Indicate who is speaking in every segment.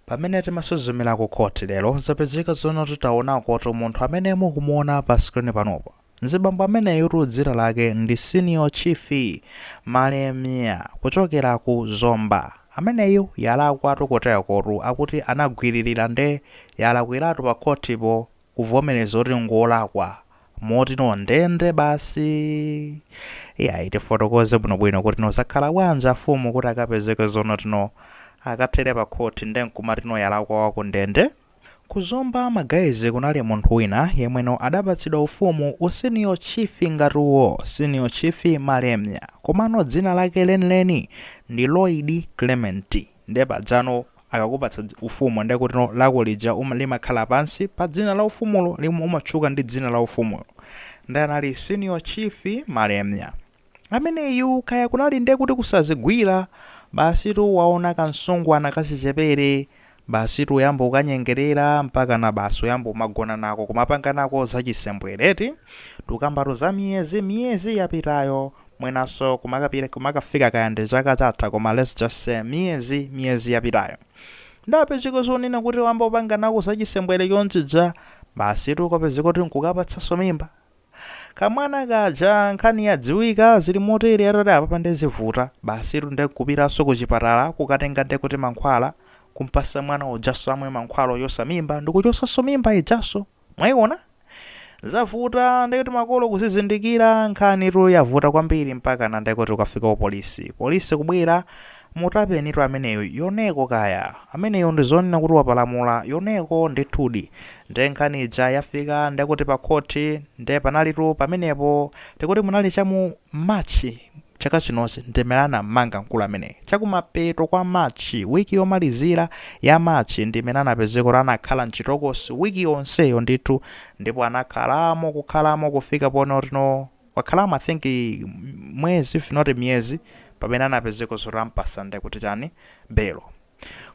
Speaker 1: Pamene timasuzumira ku court lero zapezeka zonoti titaonakotu munthu amene mukumuona pa screen panopa mzibambo ameneyutu dzina lake ndi Senior Chief Malemia kuchokera ku Zomba ameneyu yalakwatu koteroko akuti anagwililira nde yalakwiratu pa court po kuvomereza kuti ngolakwa motino ndende basi iyayi tifotokoze bwinobwino kuti no zakhala bwanji afumu kuti akapezeke zonoti no akathere pa khoti nde nkumati no yalakwa waku ndende Ku Zomba ma guys kunali munthu wina yemwe no adapatsidwa ufumu u senior chief ngati uwo senior chief Malemia komano dzina lake lenileni ndi Lloyd Clement Nde pajano akakupatsa dzi, ufumu nde kutino lako lija uma, limakhala pansi pa dzina la ufumulo limwe umatchuka ndi dzina la ufumulo. Nde anali Senior Chief Malemia. Ameneyu kaya kunali nde kuti kusazigwira, basitu waona ka msungwana kachichepere, basitu kuyamba kukanyengerera mpakana basi kuyamba kumagona nako kumapanga nako zachisembwere eti. Tukambatu za miyezi, miyezi yapitayo mwinanso kumakapita kumakafika kaya ndi chaka chatha koma let's just say miyezi miyezi yapitayo ndapezeka zonena kuti wayamba kupanga nako za chisembwere chonchija basi tu kupezeka kuti nkukapatsanso mimba kamwana kaja nkhani yadziwika zili motere atati apapa ndezivuta basi tu ndekupitanso ku chipatala kukatenga nde kuti mankhwala kumpasa mwana ujanso amwe mankhwala ochosa mimba ndikuchosanso mimba ijanso Mwaiona? Zavuta ndekuti makolo kuzizindikira nkhanitu yavuta kwambiri mpakana ndekuti kukafika ku polisi. Polisi kubwera kumutapanitu ameneyu yoneko kaya. Ameneyu ndizonena kuti wapalamula yoneko ndithudi. Nde nkhani ija yafika ndekuti pa khoti nde panalitu pamenepo tikuti munali cha mu March Chaka chinochi ndi mmene anam'manga mkulu ameneyi chakumapeto kwa March. Wiki yomalizira ya March ndi imene anapezeka kuti anakhala m'chitokosi wiki yonseyo ndithu ndipo anakhalamo kukhalamo kufika ponena kuti no wakhalamo I think mwezi if not miyezi pamene anapezeka zoti ampasa ndekuti chani belo.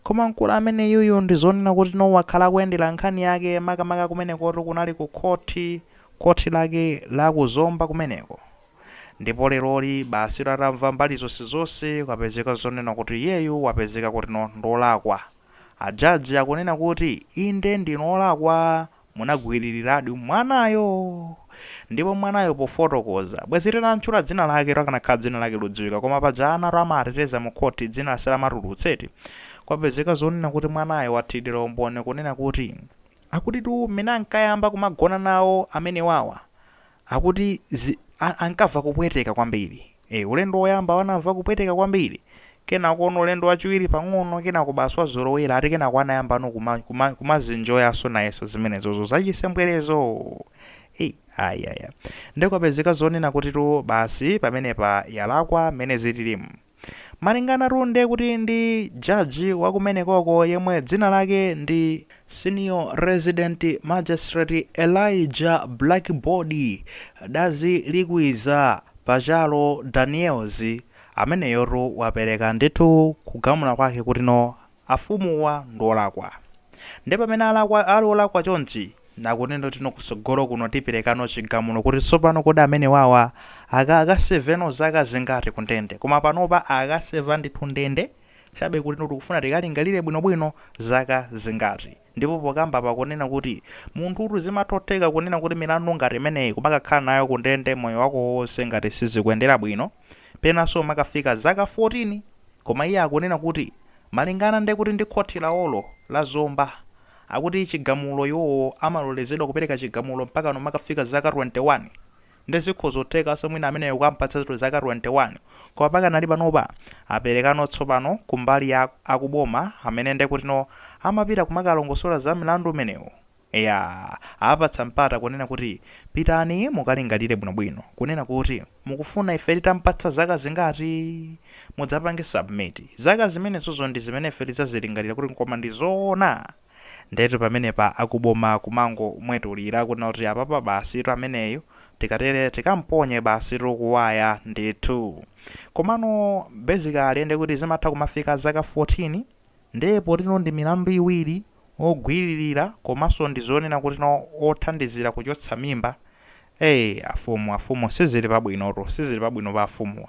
Speaker 1: Koma mkulu ameneyuyu ndi zonena kuti no wakhala akuyendera nkhani yake makamaka kumenekotu kunali ku khoti, khoti lake la ku Zomba kumeneko. Ndipo leroli basi atamva mbali zonsezonse kwapezeka zonena kuti iyeyu wapezeka kutino ndiolakwa. A judge akunena kuti inde ndinu olakwa munagwililiradi mwanayo. Ndipo mwanayo pofotokoza, bwezi titamtchula dzina laketu akanakhala dzina lake likudziwika koma paja anatu amateteza mu court dzina samalitulutsa eti. Kwapezeka zonena kuti mwanayo wathilira umboni kunena kuti akutitu mmene ankayamba kumagona nawo amenewawa Akuti zi, a, ankamva kupweteka kwambiri. E, ulendo woyambawo anamva kupweteka kwambiri. Kenakono ulendo wachiwiri pang'ono, kenako basi wazolowera, ati kenako anayambano kuma, kuma, kumazinjoyaso nayeso zimenezozo zachisembwerezo. Ei, ayi, ayi, ayi. Nde kwapezeka zonena kutitu basi pamenepa yalakwa mmene zililimu. Malinganatu nde kuti ndi judge wa kumenekoko yemwe dzina lake ndi Senior Resident Magistrate Elijah Blackbody Dazilikwiza Pachalo Daniels, ameneyotu wapereka ndithu kugamula kwake kuti no afumuwa ndiolakwa nde pamene alakwa ali olakwa chonchi akunena kuti no kusogolo kuno tiperekano chigamulo kuti tsopano kodi amenewawa aka akaseveno zaka zingati kundende koma panopa akaseva ndithu ndende chabe kuti no tikufuna tikalingalire bwino bwino zaka zingati Ndipo pokambapa kunena kuti, munthutu zimatotheka kunena kuti milandu ngati imeneyi kumakakhala nayo kundende moyo wako wonse ngati sizikuendera bwino, penanso kumakafika zaka 14! Koma iye akunena kuti malingana nde kuti ndi khothi lawolo, la Zomba, akuti chigamulo iwowo amalolezedwa kupereka chigamulo mpakana kumakafika zaka 21! Nde zikhoza kuthekaso mwina ameneyo kukampatsa ndithu zaka 21 koma pakanali panopa aperekano tsopano kumbali ya akuboma amene ndekutino amapita kumakalongosola za mlandu umenewu eya awapatsa mpata kunena kuti pitani mukalingalire bwinobwino kunena kuti mukufuna ife titampatsa zaka zingati mudzapange submit zaka zimenezozo ndizimene ife tidzazilingalira kuti koma ndizoona Ndetu pamenepa akuboma kumangomwetulira kunena kuti apapa basitu ameneyu tikatere tikamponye basitu kuwaya ndithu. Komano basically ndekuti zimatha kumafika zaka 14? Nde potino ndi milandu iwiri, ogwililira komanso ndi zonena kutino othandizira kuchotsa mimba, ee afumu afumu sizili pabwinotu sizili pabwino pa afumuwa.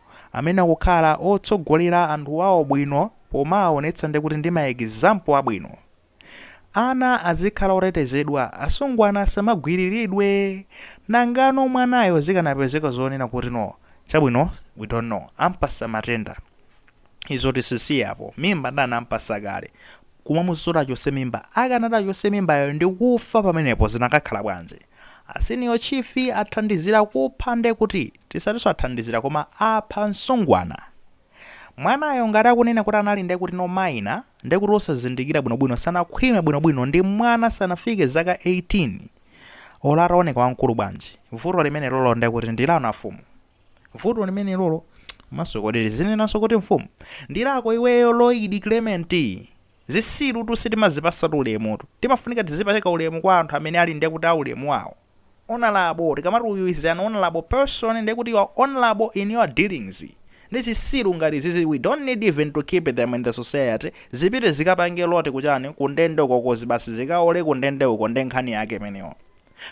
Speaker 1: amene akukhala otsogolera anthu awo bwino pomawaonetsa ndikuti ndi ma example abwino. Ana azikhala otetezedwa, asungwana asamagwiriridwe. Nangano mwanayo zikanapezeka zonena kuti no, chabwino we don't know, ampasa matenda. Izo tizisiye apo, mimba ndiyo ampasa kale? Kumuuza kuti achotse mimba, akanati achotse mimbayo ndikufa pamenepo zinakakhala bwanji? A Senior Chief athandizira kupha ndekuti? Tisatinso athandizira koma apha msungwana. Mwanayo ngati akunena kuti anali nde kuti no minor nde kuti osazindikira bwino bwino sanakhwime bwino bwino ndi mwana sanafike zaka 18 olo ataoneka wamkulu bwanji vuto limenelolo nde kuti ndi lanu afumu vuto limenelolo komanso kodi tizinenanso kuti mfumu ndi lako iweyo Lloyd Clement zitsirutu sitimazipasatu ulemutu timafunika tizipereka ulemu kwa anthu amene ali nde kuti a ulemu wawo Honourable, tikamati uyu is an honourable person ndiye kuti you are honourable in your dealings. Ndi zisiru ngati izizi we don't need even to keep them in the society, zipite zikapange rot kuchani, kundende uko kozi basi zikaole kundende uko nde nkhani yake imeneyo.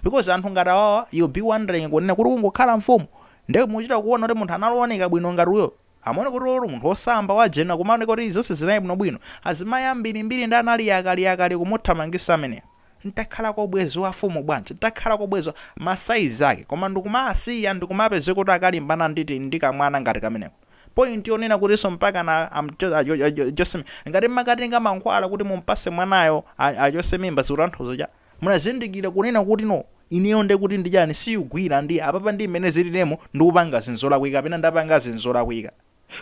Speaker 1: Because anthu ngati awawa you'll be wondering kunena kuti kungokhala mfumu? Nde muchita kuona kuti munthu anali ooneka bwino ngati uyoo? Amaona kuti olo munthu osamba wa jenda kumaoneka kuti zonse zinali bwino bwino. Azimayi ambili mbili ndi anali yakali yakali kumuthamangisa ameneyo. Ntakhalako ubwezi wa mfumu bwanji? Ntakhalako ubwezi wa ma size ake. Koma ndikumaasiya ndikumapezeka kuti akalimbana ndi ti ndi kamwana ngati kameneko. Point yonena kutinso mpakana achose mimba. Ngati mmakatenga mankhwala kuti mumpase mwanayo a achose mimba zikutanthauza cha? Munazindikira kunena kuti no ineyo nde kuti ndi chani siugwira ndi apapa ndi mmene zililemo ndikupanga zinthu zolakwika kapena ndapanga zinthu zolakwika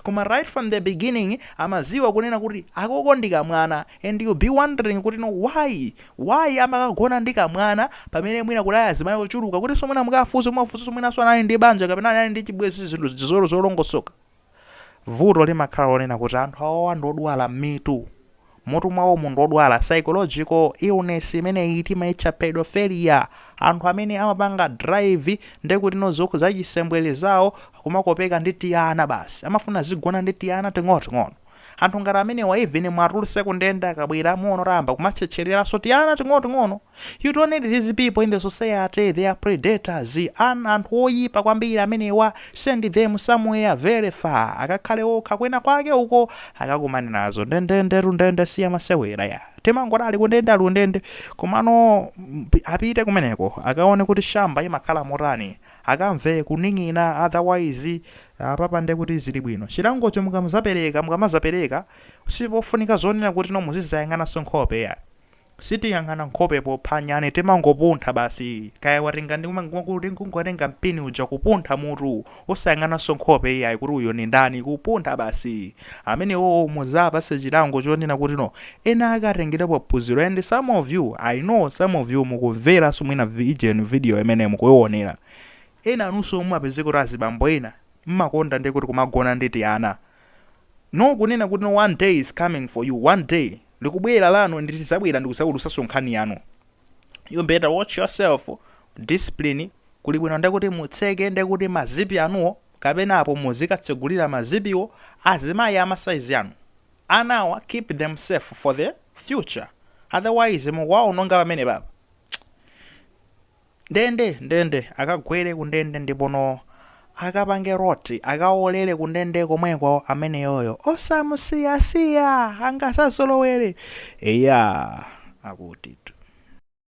Speaker 1: koma right from the beginning amaziwa kunena kuti akoka ndi kamwana and you'll be wondering kuti no why why amakagona ndi kamwana pamene mwina kunali azimai ochuluka kutinso mwina mukafunse muwafunsenso mwinanso anali ndi banja kapena anali ndi chibwezi zinthu zolongosoka Vuto limakhala lonena kuti anthu awawa ndi odwala mmitu. Mmutu mwawomu ndi odwala, psychological illness imeneyi timaitcha pedophilia. Anthu amene amapanga drive nde kuti no zokhu, zachisembwere zawo kumakopeka ndi tiana basi. Amafuna azigona ndi tiana ting'onoting'ono. Anthu ngati amenewa even muwatulutse kundende akabwera muona kuti ayamba kumatchetchereraso tiana ting'onoting'ono. You don't need these people in the society, they are predators, anthu oyipa kwambiri amenewa, send them somewhere very far, akakhale okha kwena kwake uko akakumane nazo ndendende ndende siya masewera ya timangoti ali kundende ali kundende komano mm, pi- apite kumeneko akaone kuti shamba imakhala motani akamve kuning'ina otherwise apapa nde kuti zili bwino chilangocho mukamazapereka mukamazapereka sipofunika zonena kuti no muzizayang'ananso nkhope ya Sitiyang'ana nkhope popha nyani timangopuntha basi kaya watenga ndi kungotenga mpini uja kupuntha mutu osayang'ananso nkhope iyayi kuti uyu ndi ndani kupuntha basi amenewowo muzawapase chilango chonena kuti no ena akatengelepo phunziro and some of you I know some of you mukumveranso mwina ujeni video imeneyi mukuionera enanunso mumapezeka kuti azibambo ena mmakonda ndi kuti kumagona ndi tiana no kunena kuti no one day is coming for you one day likubwera lanu nde tizabwera ndikuzaulusaso nkhani yanu you better watch yourself discipline kulibwino ndekuti mutseke ndekuti ma zipi anuwo kapena apo muzikatsegulira ma zipiwo azimayi ama size anu anawa keep them safe for the future otherwise mukuwaononga pamenepapa Ndende! Ndende! Akagwere kundende ndipono akapange rot akawolere kundende komweko ameneyoyo osamusiya siya angazazolowere eya akutitu.